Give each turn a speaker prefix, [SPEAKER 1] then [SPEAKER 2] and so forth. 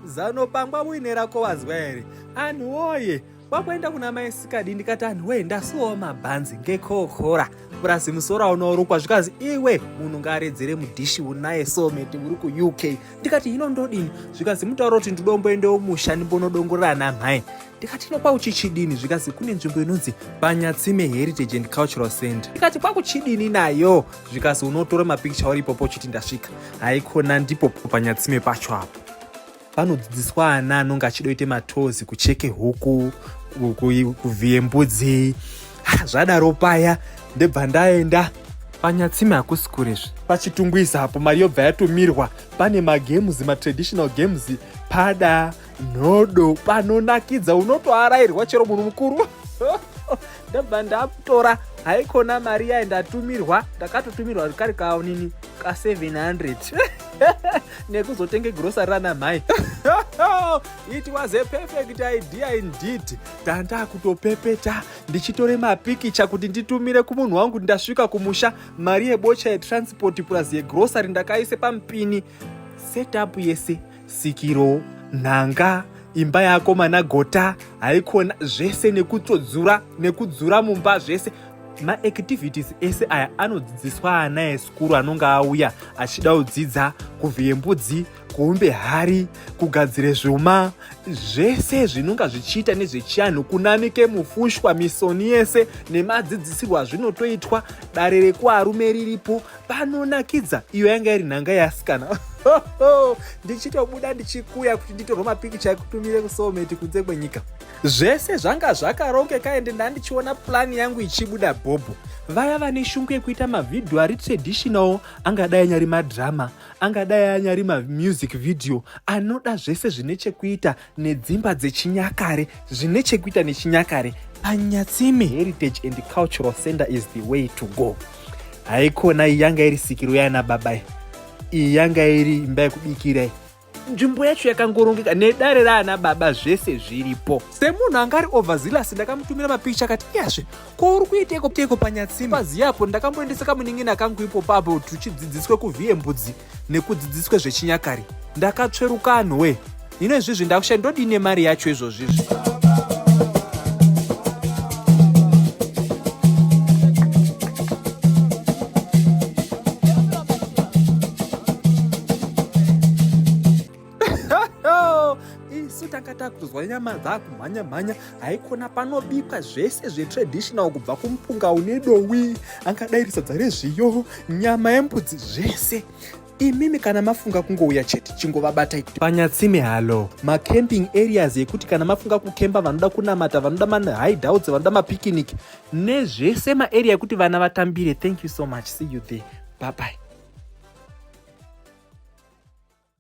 [SPEAKER 1] zano pangwa muine rako wazwa here anhu woye kwakuenda kuna mai sikadi ndikati anhu wee ndasuwawo mabhanzi ngekokora purasi musoro aunoorukwa zvikanzi iwe munhu ngaaredzere mudhishi unaye someti uri kuuk ndikati hino ndodini zvikanzi mutauro kuti ndidomboendewo musha ndimbonodongorera namhai ndikati no kwakuchichidini zvikanzi kune nzvimbo inonzi panyatsime heritage and cultural center ndikati kwakuchidini nayo zvikanzi unotora mapikicha uri ipopo uchiti ndasvika haikona ndipo panyatsime pacho apo panodzidziswa ana anonge achidoite matozi kucheke huku kuvhiye mbudzi zvadaro paya ndebva ndaenda panyatsime hakusi kurezve pachitungwiza apo mari yobva yatumirwa pane magames matraditional games pada nhodo panonakidza unotoarairwa chero munhu mukuru ndabva ndatora haikona mari yayi ndatumirwa ndakatotumirwa kari kaonini ka 700 nekuzotenge grosari rana mhai it was a perfect idea indeed tanda kutopepeta ndichitore mapikicha kuti nditumire kumunhu wangu kuti ndasvika kumusha mari yebocha yetransport plus yegrosari ndakaise pamupini setup yese sikiro nhanga imba yako mana gota haikona zvese nekutsodzura nekudzura mumba zvese maactivities ese aya anodzidziswa ana esikuru anonge auya achida kudzidza kuvhiye mbudzi kuumbe hari kugadzire zvuma zvese zvinonga zvichiita nezvechianhu kunamike mufushwa misoni yese nemadzidzisirwo azvinotoitwa dare rekuarume riripo panonakidza iyo yanga iri nhanga yeasikana ndichitobuda ndichikuya kuti nditorwe mapikicha ekutumire kusoulmate kunze kwenyika zvese zvanga zvakarongeka ende ndandichiona purani yangu ichibuda bhobho vaya vane shungu yekuita mavhidhiyo ari traditional angadai anyari madhirama angadai anyari mamusic vhidhiyo anoda zvese zvine chekuita nedzimba dzechinyakare zvine chekuita nechinyakare anyatsime heritage and cultural center is the way to go haikona iyi yanga iri sikiro yana baba iyi yanga iri imba yekubikirai nzvimbo yacho yakangorongeka nedare raana baba zvese zviripo semunhu anga ari overzealous ndakamutumira mapikicha akati iyazve ko uri kuiteiko teiko panyatsime paziyapo ndakamboendesa kamunin'ina kangu ipo papo tuchidzidziswa kuvhiye mbudzi nekudzidziswe zvechinyakare ndakatsveruka anhuwe hino izvizvi ndakusha ndodii nemari yacho izvozvizvi isu tanga takuzwa nyama dzakumhanya mhanya haikona panobikwa zvese zvetraditional kubva kumupunga une dowi angadai risadza rezviyo nyama yembudzi zvese imimi kana mafunga kungouya chete chingovabata ikuti panyatsime halo macamping areas ekuti kana mafunga kukemba vanoda kunamata vanoda mahideouts vanoda mapicnic nezvese maarea ekuti vana vatambire thank you so much see you there bye bye